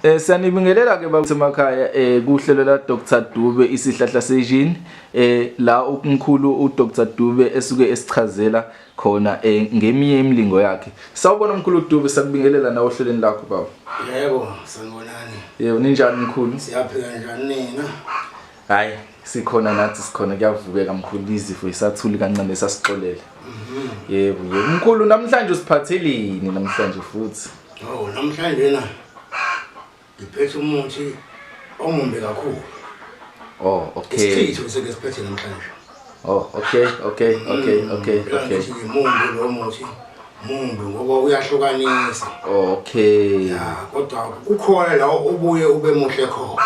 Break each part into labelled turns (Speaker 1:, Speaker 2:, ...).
Speaker 1: Eh siyanibingelela ke basemakhaya eh kuhlelo la Dr Dube isihlahla sejini eh la umkhulu u Dr Dube esuke esichazela khona eh ngeminye imilingo yakhe. Sawubona umkhulu Dube sakubingelela nawe ohlelweni lakho baba. Yebo sanibonani.
Speaker 2: Yebo ninjani
Speaker 1: mkhulu? Siyaphila njani nina?
Speaker 2: Hayi
Speaker 1: sikhona nathi sikhona kuyavukeka mkhulu izifo isathuli kancane sasixolele. Yebo yebo mkhulu namhlanje usiphathelini namhlanje futhi. Oh namhlanje
Speaker 2: na ngiphethe umuthi omumbi kakhulu. Oh
Speaker 1: okay. Isichitho sike siphethe
Speaker 2: namhlanje. Oh okay
Speaker 1: okay okay mm, okay okay.
Speaker 2: Ngimumbi lo muthi mumbi ngoba uyahlukanisa. Oh, okay.
Speaker 1: Ya kodwa
Speaker 2: kukhona la ubuye ube muhle khona.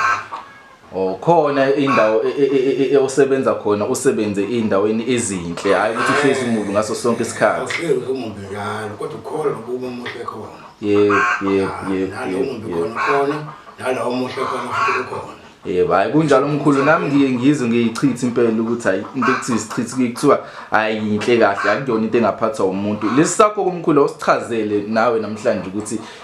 Speaker 2: Oh
Speaker 1: khona indawo e- e- e- e- e- osebenza khona usebenze indaweni ezinhle hayi ukuthi uhlezi umubi ngaso sonke isikhathi. awuhlezi umubi njalo
Speaker 2: kodwa ukhona nokuba omuhle khona Yebo yebo
Speaker 1: yebo nalo yebo. umubi yebo. khona khona
Speaker 2: nalawo omuhle khona futhi ukhona Yebo hayi kunjalo
Speaker 1: mkhulu nami ngiye ngizwe ngiyichitha impela ukuthi hayi into ekuthiwa isichitha kuye kuthiwa hayi yinhle kahle akuyona into engaphathwa umuntu. Lesi sakho kumkhulu awusichazele nawe namhlanje ukuthi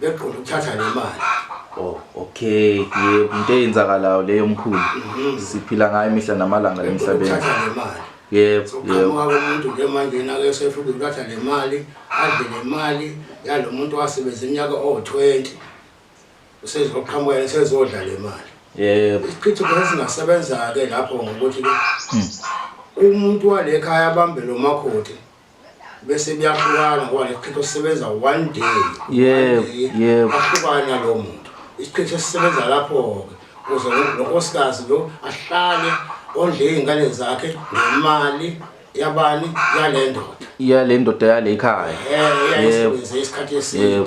Speaker 2: beqonda ukuthatha le mali Oh,
Speaker 1: okay. Yebo, into eyenzakalayo leyo mkhulu. Mhm. Siphila ngayo imihla namalanga emhlabeni. ukuthatha le mali
Speaker 2: Yebo, so yebo.
Speaker 1: qhamuka komuntu
Speaker 2: nje manje nake esefika ukuthatha le mali adle le mali yalo muntu wasebenza iminyaka owu-20 usezoqhamuka yena sezodla le mali Yebo. isichitho
Speaker 1: khona
Speaker 2: singasebenza-ke lapho ngokuthi-ke umuntu wale khaya abambe lo makoti bese kuyahlukana ngoba lesiqhetho sisebenza one day yebo
Speaker 1: yebo ahlukana nalo
Speaker 2: muntu isiqhetho sisebenza lapho ke kuze nonkosikazi lo ahlale ondle izingane zakhe ngemali yabani yalendoda yalendoda yalekhaya
Speaker 1: eh
Speaker 2: yebo isikhathi eside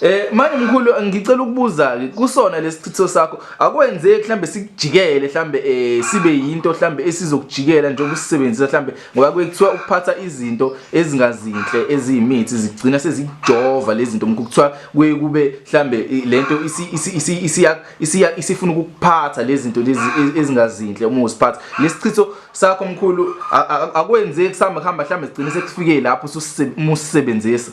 Speaker 1: Eh manje mkhulu ngicela ukubuza ke kusona lesichitho sakho akwenzeki mhlambe sikujikele mhlambe eh sibe yinto mhlambe esizokujikela njengoba usisebenzisa mhlambe ngoba kuyekuthiwa ukuphatha izinto ezingazinhle eziyimithi zigcina sezikujova lezi zinto ngikuthiwa kuye kube mhlambe lento isiya isiya isifuna ukuphatha lezi zinto lezi e-, ezingazinhle uma usiphatha lesichitho sakho mkhulu akwenzeki sihamba hamba mhlambe sigcine sekufike lapho ususebenzisa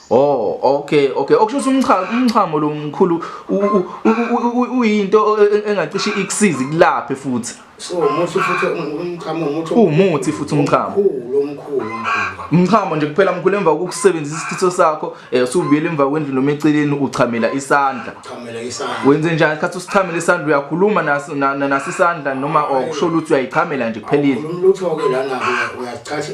Speaker 2: Oh
Speaker 1: okay okay okusho ukuthi umchamo umchamo lo mkhulu uyinto engacishe ikusize kulaphe futhi so umuthi
Speaker 2: futhi umchamo umuthi umuthi futhi
Speaker 1: umchamo omkhulu
Speaker 2: omkhulu umchamo
Speaker 1: nje kuphela mkhulu emva kokusebenzisa isithiso sakho eh usubuyela emva kwendlu noma eceleni uchamela isandla uchamela isandla wenze njani isikhathi usichamela isandla uyakhuluma naso nasisandla noma okusho ukuthi uyayichamela nje kuphelile umlutho ke lana
Speaker 2: uyachatha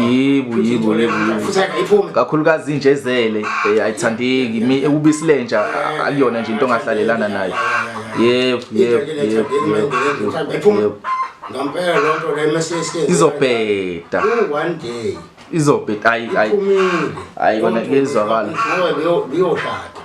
Speaker 2: Yebo yebo
Speaker 1: yebo. Kakhulukazi inje ezele eh, ayithandeki mi ekubisi lenja akuyona nje into ongahlalelana nayo. Yebo yebo yebo. Ngampela lonto
Speaker 2: le message izobheda.
Speaker 1: One
Speaker 2: day izobheda ayi
Speaker 1: ayi. Ayi kona kuyezwakala. Ngoba
Speaker 2: biyoshada.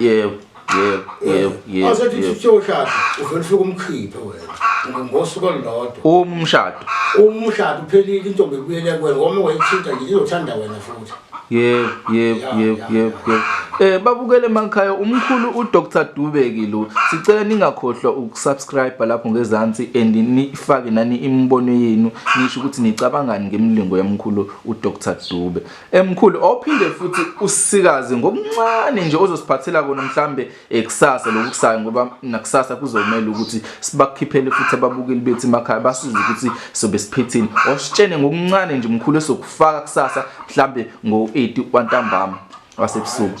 Speaker 1: yebo yebo yebo
Speaker 2: yebo azothi yebo. siyoshada uvele ufike umkhiphe wena ngosuku olulodwa umshado umshado
Speaker 1: uphelile
Speaker 2: intombi ibuyele kuwena ngoba wayithinta nje izothanda
Speaker 1: wena futhi yebo yebo Ya, yebo ya, yebo ya. yebo eh babukele emakhaya umkhulu uDr Dubeki lo sicela ningakhohlwa ukusubscribe lapho ngezansi and nifake nani imibono yenu nisho ukuthi nicabangani ngemlingo yamkhulu uDr Dube Emkhulu ophinde futhi usikaze ngokuncane nje ozosiphathela kona mhlambe ekusasa lokusayo ngoba nakusasa kuzomela ukuthi sibakhiphele futhi ababukeli bethu emakhaya basize ukuthi sobe siphethini ositshene ngokuncane nje mkhulu esokufaka kusasa mhlambe ngo-8 kwantambama wasebusuku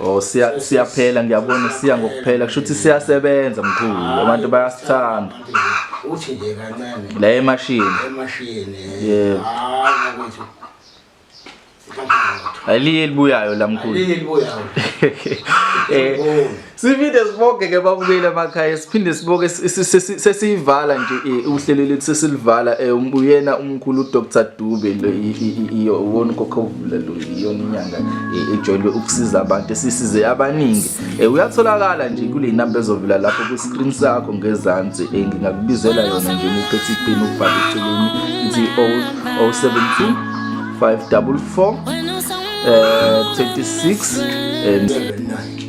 Speaker 2: Oh siya siyaphela
Speaker 1: ngiyabona siya ngokuphela kusho ukuthi siyasebenza mkhulu abantu bayasithanda uthi
Speaker 2: nje kancane la emashini
Speaker 1: emashini yebo hayi
Speaker 2: ukuthi
Speaker 1: Aliye elibuyayo la mkhulu. Aliye
Speaker 2: elibuyayo. Eh
Speaker 1: Siphinde siboke ke babukeli emakhaya siphinde siboke sesiyivala nje eh, uhlelo lethu sesilivala eh, um, uyena umkhulu uDr Dube lo iyo wona kokhovula lo iyona inyanga eh, ejwayelwe ukusiza abantu esisize abaningi uyatholakala nje kule number ezovela lapho ku screen sakho ngezansi ngingakubizela yona nje ngiphethe ipeni ukubhala eceleni ithi 017 544 uh, 36 and 79